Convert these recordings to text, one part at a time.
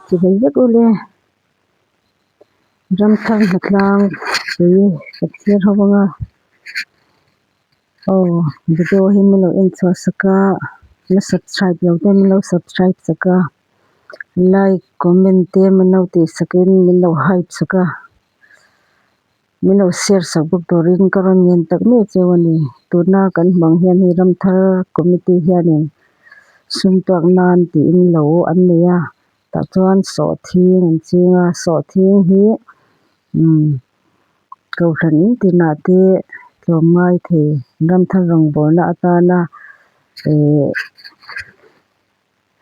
Chi hlei vek u le ramthak hna tlang ui hriatchiar ho anga aw video hi min lo en chhuah sak a la subscribe lo te min lo subscribe sak a like comment te min lo tih sak in min lo hype sak a. Min lo share sak bawk turin ka rawn ngen tak nuai cheu a ni. Tuna kan hmuh ang hian hei Ramthar committee hianin sumtuak nan tiin lo an nei a, tah chuan sawhthing an ching a, sawhthing hi umm Kohhran in tinah te tlawm ngai thei Ramthar rawngbawlna atana eeh.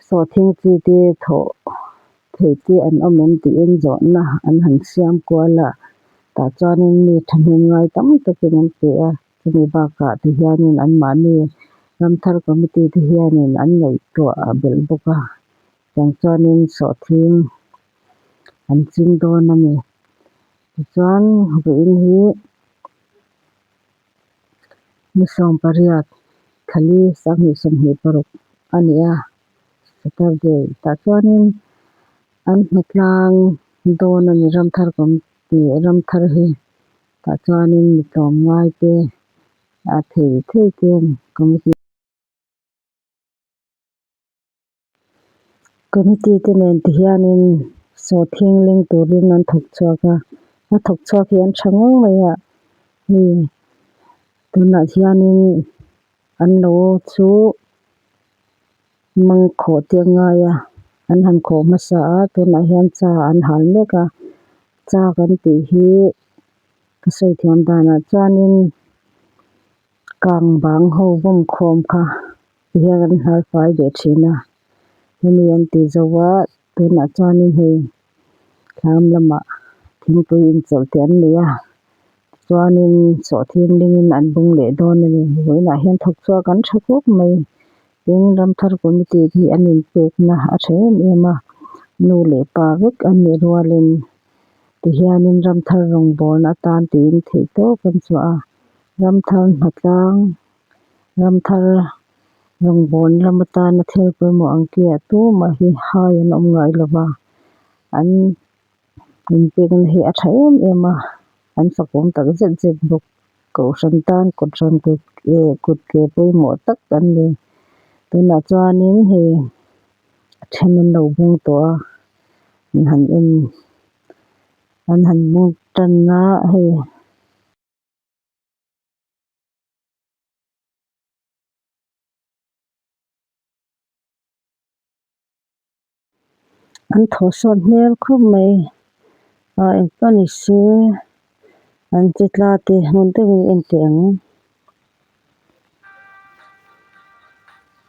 Sawhthing chi te thawh theih te an awm em tiin zawhna an han siam kual a, tah chuanin mi thahnem ngai tam takin an pe a, chumi bakah ti hianin anmahni ram thar committee te hianin an ngaihtuah a belh bawk a, tiang chuanin Sawhthing an ching dawn a ni. Tichuan ruin hi. ni sawm pariat thali sangni sawmhnih paruk a ni a saturday tah chuanin an hmu tlang dawn a ni ramthar kan ti ramthar hi tah chuanin ni tlawm ngaite a thei theite an awm a ni. Committee te nen ti hianin saw thingleng turin an thawk chhuak a, a thawk chhuak hi an tha ngawng mai a, hei tunah hianin an lo chu mang khawh te a ngai a, an han khawh hmasa a, tunah hian cha an hal mek a, cha kan tih hi ka sawi thiam danah chuanin kang bang ho vawm khawm kha Tihian kan hnaifai leh thin a, hemi an tih zo a, tunah chuanin hei thlâng lamah thingpui inchawlh teh an nia, tichuanin sawh thinglingin an bung leh dawn a ni. Vawiinah hian thawk chu a kan tha khawp mai, tin ramthar committee hi an inpekna a tha em em a, nu leh pa vek an nih rualin tihianin ramthar rawngbâwlna atan tiin theih tawp an chhuah a, ramthar hnatlâng Ramthar rawngbâwn lam atâna thil pawimawh an kiah tûmah hi hai an awm ngai lo va, an inpêkna hi a ṭha êm êm a, an fakawm tak zet zet bawk. Kohhran tân kawlram kut eh kut ke pawimawh tak an ni. Tunah chuanin hei a ṭhen an lo bung tawh a, an han en an han bung ṭanna hei. An thaw sawt hmel khawp mai a eng ka ni se an che tla te hmun deuhin en teh ang.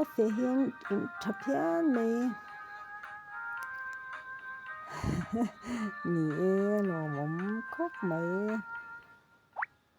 A fe hian in tha phian mai ni e lawmawm khawp mai.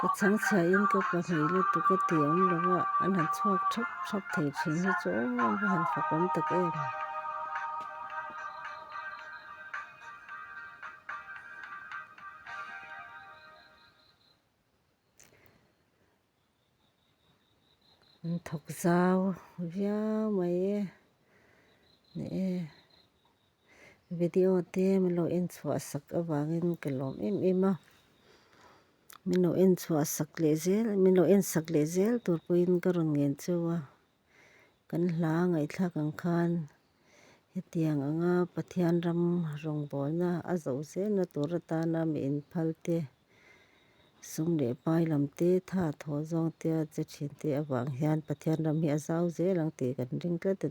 ka chhang chhia in ka pa hnih lutuk a ti awm lo a, an han chhuak thrap thrap thei thin hi chu awm awm hi han fak awm tak em. An thawk zau viau mai e ni e. Video te min lo en chhuah sak avangin ka lawm em em a. Min lo en chhuah sak leh zel, min lo en sak leh zel tur pawhin ka rawn ngen cheu a. Kan hla ngaihthlak ang khan hetiang ang a, Pathian ram rawngbawlna a zo zelna tur atana mi inphalte, sum leh pai lam te, tha thaw zawng te, che thin te avang hian Pathian ram hi a zau zel ang tih kan ring tlat a ni.